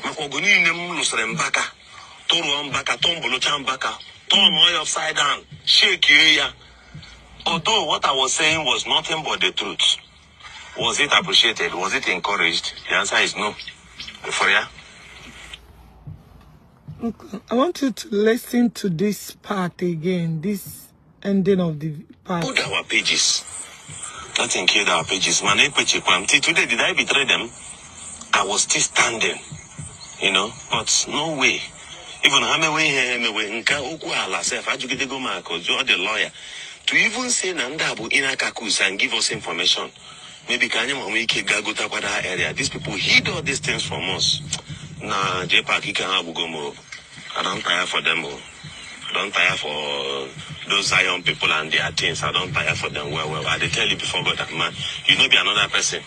maka ọgụ niile m lụsịrị mbaka tụrụọ mbaka tọmbụlụcha mbaka turn oil upside down shake ya although what i was saying was nothing but the truth was it appreciated was it encouraged the answer is no for ya I want you to listen to this part again. This ending of the part. Put our pages. Nothing killed our pages. Man, Till today, did I betray them? I was still standing, you know, but no way. Even how many way here, me way, nka okwu ala self, ajugide go mark, or the lawyer. To even say na ndị abụ in akakus and give us information. Maybe ka anyị ma nwee ike gaa gotakwa that area. These people hid all these things from us. Na J-Park ike ha abụgo m o. I don't tire for them o. don tire for those Zion people and their things. I don tire for them well, well. I dey tell you before God and man, you no be another person.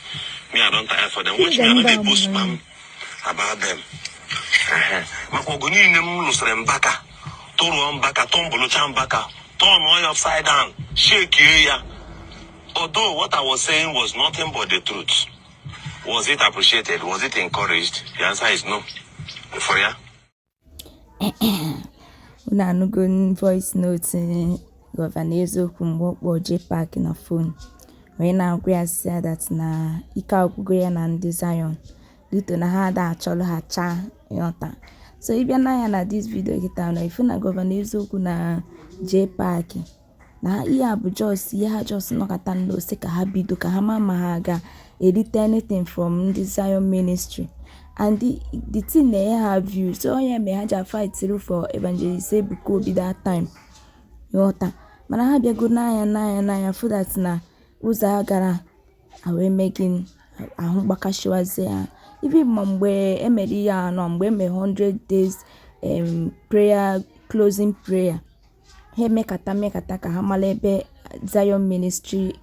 Me, I don tire for them. Watch me, I no dey post spam about them. Ehe. Maka ọgụ niile m lụsịrị mbaka, tụrụọ mbaka, tụmbụlụcha mbaka, tụọ ya upside down, shekie ya. Although what I was saying was nothing but the truth. Was it appreciated? Was it encouraged? The answer is no. For ya. Unu anụgo voice note Gọvanọ Eziokwu mgbe ọ kpọọ JPAC na fon wee na-agwa ya sị ya that na ike agwụgo ya na ndị Zion due to na ha ada achọrọ ha cha ị ghọta so ị bịa nee anya na this video kịta na ị fụ na Gọvanọ Eziokwu na JPAC na ihe a bụ just ihe ha just nọkata sị ka ha bido ka ha ma ma ha ga-erite anything from ndị Zion ministry and the, the thing na-enye ha view so ọ ya mere ha ji fight through for evangelist Ebuka Obi that time ị ghọta mana ha bịago n'anya n'anya n'anya fụ that na ụzọ agara o wee mee ka ahụ gbakashiwazie ha even mgbe e mere ihe anọ mgbe e mere 100 days prayer closing prayer ha emekata mekata ka ha mara ebe Zion Ministry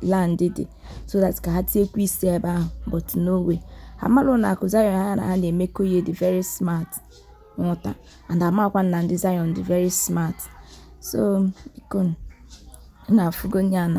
land dị so that ka ha tinyekwuo isi ebe ahụ but no way ha mara na akụ Zion ha na ha na-emekọ ihe dị very smart ị ghọta and amakwa na ndị Zion dị very smart so biko unu afụgo nya na